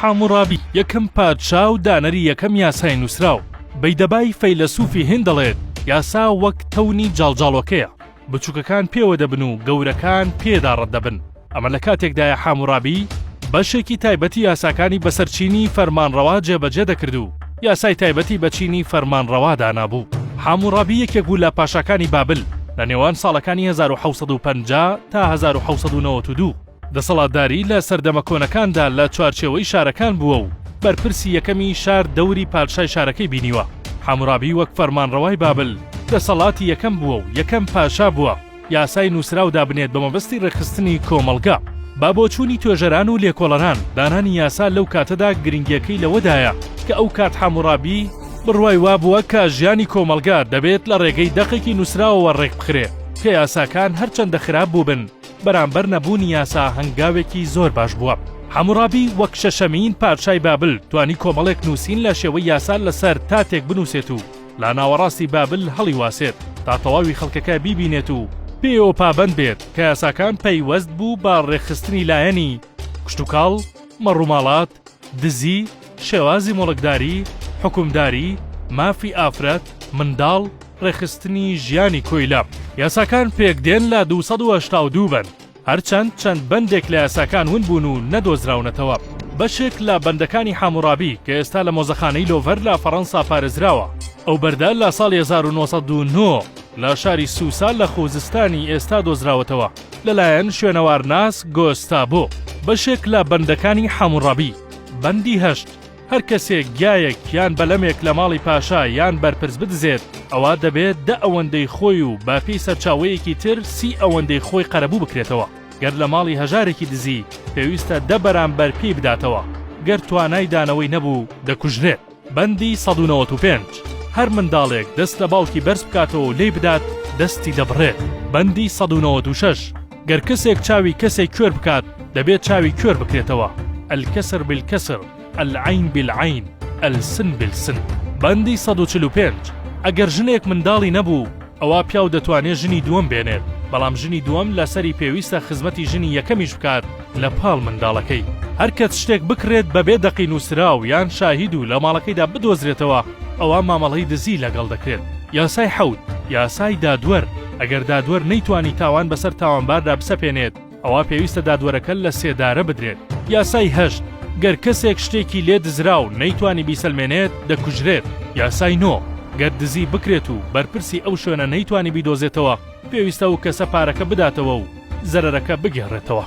حاموڕابی یەکەم پادشا و دانەری یەکەم یاسای نووسراو، بەیدەبای فەیلەسووفی هیند دەڵێت، یاسا وەک تەونی جاڵجاڵۆکەیە، بچووکەکان پێوە دەبن و گەورەکان پێیدا ڕەت دەبن. ئەمە لە کاتێکدایە حاموڕابی بەشێکی تایبەتی یاساکانی بەسەر چینی فەرمانڕەوا جێبەجێ دەکرد و یاسای تایبەتی بە چینی فەرمانڕەوا دانابوو. حاموڕابی یەکێک بوو لە پاشاکانی بابل لە نێوان ساڵەکانی هەزار و حەوت سەد و پەنجا تا هەزار و حەوت سەد و نەوەت و دوو. دەسەڵاتداری لە سەردەمە کۆنەکاندا لە چوارچێوەی شارەکان بووە و بەرپرسی یەکەمی شار دەوری پادشای شارەکەی بینیوە. حامورابی وەک فەرمانڕەوای بابل دەسەڵاتی یەکەم بووە و یەکەم پاشا بووە یاسای نووسراو دابنێت بە مەبەستی ڕێکخستنی کۆمەڵگە. بە بۆچوونی توێژەران و لێکۆڵەران، دانانی یاسا لەو کاتەدا گرنگییەکەی لەوەدایە کە ئەو کات حامورابی بڕوای وا بووە کە ژیانی کۆمەڵگە دەبێت لە ڕێگەی دەقێکی نووسراوەوە ڕێکبخرێت کە یاساکان هەرچەندە خراپ بووبن بەرامبەر نەبوونی یاسا هەنگاوێکی زۆر باش بووە. حەموڕابی وەک شەشەمین پادشای بابل توانی کۆمەڵێک نووسین لە شێوەی یاسا لەسەر تاتێک بنووسێت و لە ناوەڕاستی بابل هەڵیواسێت تا تەواوی خەڵکەکە بیبینێت و پێیەوە پابەند بێت کە یاساکان پەیوەست بوو بە ڕێکخستنی لایەنی کشتوکاڵ، مەڕوماڵات، دزی، شێوازی موڵکداری، حوکمداری، مافی ئافرەت، منداڵ، ڕێکخستنی ژیانی کۆیلە. یاساکان پێکدێن لە دوو سەد و هەشتا و دوو بەند، هەرچەند چەند بەندێک لە یاساکان ون بوون و نەدۆزراونەتەوە. بەشێک لە بەندەکانی حاموڕابی کە ئێستا لە مۆزەخانەی لۆڤەر لە فەڕەنسا پارێزراوە. ئەو بەردە لە ساڵی هەزار و نۆ سەد و نۆ لە شاری سوسا لە خووزستانی ئێستا دۆزراوەتەوە. لەلایەن شوێنەوارناس گۆستابۆ، بەشێک لە بەندەکانی حەموڕەبی، بەندی هەشت، هەر کەسێک گیایەک یان بەلەمێک لە ماڵی پاشا یان بەرپرس بدزێت، ئەوا دەبێت دە ئەوەندەی خۆی و بەپێی سەرچاوەیەکی تر سی ئەوەندەی خۆی قەرەبوو بکرێتەوە. گەر لە ماڵی هەژارێکی دزی، پێویستە دە بەرامبەر پێی بداتەوە. گەر توانای دانەوەی نەبوو، دەکوژرێت. بەندی سەد و نەوەت و پێنج، هەر منداڵێک دەست لە باوکی بەرز بکاتەوە و لێی بدات دەستی دەبڕێت. بەندی سەد و نەوەت و شەش، گەر کەسێک چاوی کەسێک کوێر بکات دەبێت چاوی کوێر بکرێتەوە، الکسر بالکسر، العین بالعین، السن بالسن. بەندی سەد و چل و پێنج، ئەگەر ژنێک منداڵی نەبوو ئەوا پیاو دەتوانێت ژنی دووەم بێنێت، بەڵام ژنی دووەم لەسەری پێویستە خزمەتی ژنی یەکەمیش بکات لە پاڵ منداڵەکەی. هەر کەس شتێک بکڕێت بەبێ دەقی نووسراو یان شاهید و لە ماڵەکەیدا بدۆزرێتەوە ئەوا مامەڵەی دزی لەگەڵ دەکرێت. یاسای حەوت، یاسای دادوەر، ئەگەر دادوەر نەیتوانی تاوان بەسەر تاوانباردا بسەپێنێت، ئەوا پێویستە دادوەرەکە لە سێدارە بدرێت. یاسای هەشت، گەر کەسێک شتێکی لێ دزرا و نەیتوانی بیسەلمێنێت، دەکوژرێت. یاسای نۆ، گەر دزی بکرێت و بەرپرسی ئەو شوێنە نەیتوانی بیدۆزێتەوە، پێویستە ئەو کەسە پارەکە بداتەوە و زەرەرەکە بگێڕێتەوە.